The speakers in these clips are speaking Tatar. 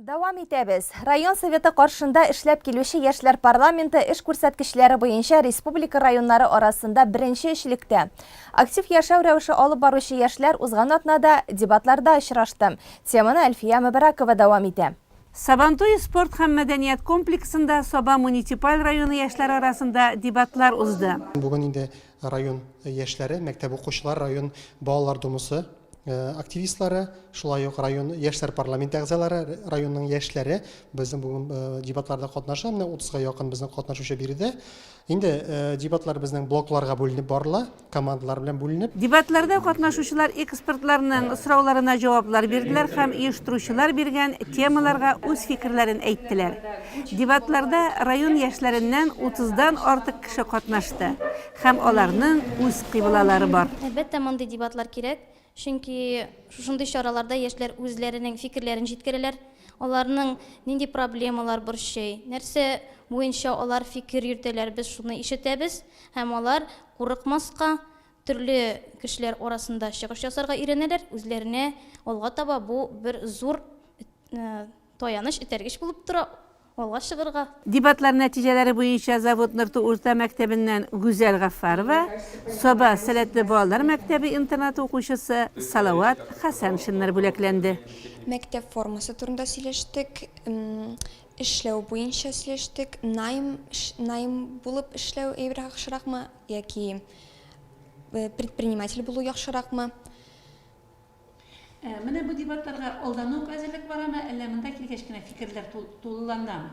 Дәвам итәбез. Район Советы каршында эшләп килүче яшьләр парламенты эш күрсәткечләре буенча республика районнары арасында беренче өчлектә. Актив яшәү рәвеше алып баручы яшьләр узган атнада дебатларда очрашты. Теманы Әлфия Мөбәрәкова дәвам итә. Сабантуй спорт һәм мәдәният комплексында Саба муниципаль районы яшьләр арасында дебатлар узды. Бүген инде Район яшьләре, мәктәп укучылары, район Балалар думасы активистлары, шулай ук район яшьләр парламенты әгъзалары, районның яшьләре безнең бүген дебатларда катнаша. Менә 30га якын безнең катнашучы биредә. Инде дебатлар безнең блокларга бүленеп барыла, командалар белән бүленеп. Дебатларда катнашучылар экспертларның сорауларына җаваплар бирделәр һәм оештыручылар биргән темаларга үз фикерләрен әйттеләр. Дебатларда район яшьләреннән утыздан артык кеше катнашты һәм аларның үз кыйблалары бар. Әлбәттә, мондый дебатлар кирәк, чөнки шушындый чараларда яшьләр үзләренең фикерләрен җиткерәләр, аларның нинди проблемалар борчый, нәрсә буенча алар фикер йөртәләр, без шуны ишетәбез һәм алар курыкмаска, төрле кешеләр арасында чыгыш ясарга өйрәнәләр, үзләренә алга таба бу бер зур Таяныч, этәргеч булып тора алга чыгырга. Дебатлар нәтиҗәләре буенча Завод Нырту урта мәктәбеннән Гүзәл Гаффарова, Саба сәләтле балалар мәктәбе-интернаты укучысы Салават Хәсәншиннар бүләкләнде. Мәктәп формасы турында сөйләштек, эшләү буенча сөйләштек, найм, найм булып эшләү яхшыракмы яки предприниматель булу яхшыракмы? Ә менә бу дебатларга алдан ук әзерлек барамы, әллә монда килгәч кенә фикерләр тулыланамы?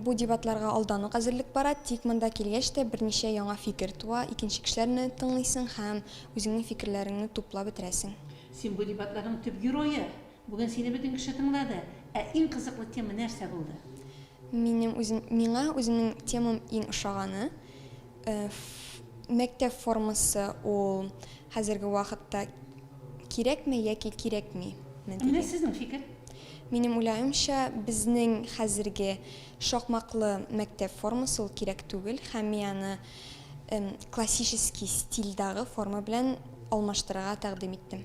Бу дебатларга алдан ук әзерлек бара, тик монда килгәч тә берничә яңа фикер туа, икенче кешеләрне тыңлыйсың һәм үзеңнең фикерләреңне туплап бетерәсең. Син бу дебатларның төп герое. Бүген сине бөтен кеше тыңлады. Ә иң кызыклы тема нәрсә булды? Минем үзем, миңа үземнең темам иң ошаганы. Мәктәп формасы ул хәзерге вакытта кирәкме яки кирәкми? Менә сезнең фикер. Минем уйлавымча, безнең хәзерге шакмаклы мәктәп формасы ул кирәк түгел һәм мин аны классический стильдагы форма белән алмаштырырга тәкъдим иттем.